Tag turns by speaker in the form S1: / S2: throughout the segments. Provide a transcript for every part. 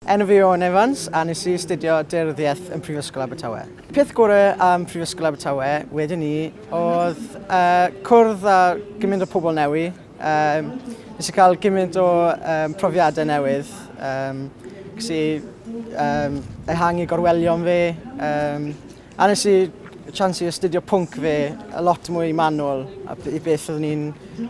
S1: Enw fi yw Owen Evans a nes i astudio Daearyddiaeth yn Prifysgol Abertawe. Peth gore am Prifysgol Abertawe wedyn ni oedd uh, cwrdd â gymaint o pobl newi. Um, nes i cael gymaint o um, profiadau newydd. Um, Ges i um, ehangu gorwelion fi, um, A nes i chance i astudio pwnc fe y lot mwy manwl i beth oeddwn i'n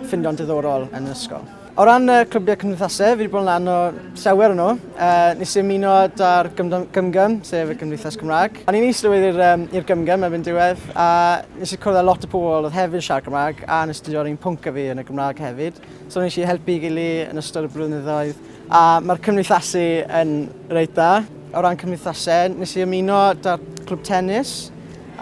S1: ffindio'n diddorol yn yr ysgol. O ran y clybiau cymdeithasau, fi wedi bod yn lan o sewer yno. Uh, nes i ymuno da'r gymgym, sef y Gymdeithas Cymraeg. O'n i'n eistedd i'r um, gymgym erbyn diwedd, a nes i cwrdd â lot o pobl oedd hefyd yn siarad Cymraeg, a nes i astudio un pwnc a fi yn y Gymraeg hefyd. So nes i helpu gili yn ystod y blynyddoedd a mae'r cymdeithasu yn reit dda. O ran cymdeithasau, nes i ymuno da'r clwb tennis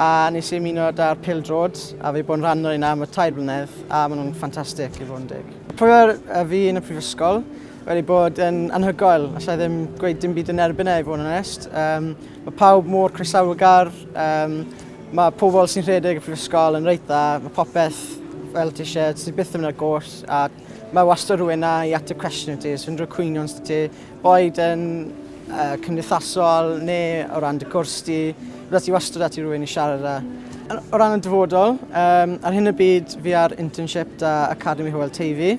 S1: a nes i ymuno da'r pildrod a fi bod yn rhan o'r un am y tair blynedd a maen nhw'n ffantastig i fod yn deg. Profiad fi yn y prifysgol wedi bod yn anhygoel, allai ddim gweud dim byd yn erbyn e i fod yn onest. Um, mae pawb mor croesawgar, um, Mae pobl sy'n rhedeg y prifysgol yn reit dda, mae popeth fel ti eisiau, ti byth yn mynd ar gôrs a mae wastad rhywun na i ateb cwestiwn i ti, sy'n rhyw cwynion sydd ti, boed yn uh, cymdeithasol neu o ran dy gwrs ti, bydda ti wastad at i rhywun i siarad â. O ran y dyfodol, um, ar hyn y byd fi ar internship da Academy Hywel Teifi,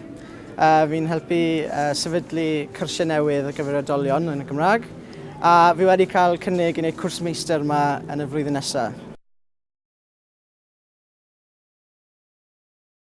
S1: Uh, fi'n helpu uh, sefydlu cyrsiau newydd ar gyfer oedolion yn y Gymraeg. A fi wedi cael cynnig i wneud cwrs meistr yma yn y flwyddyn nesaf.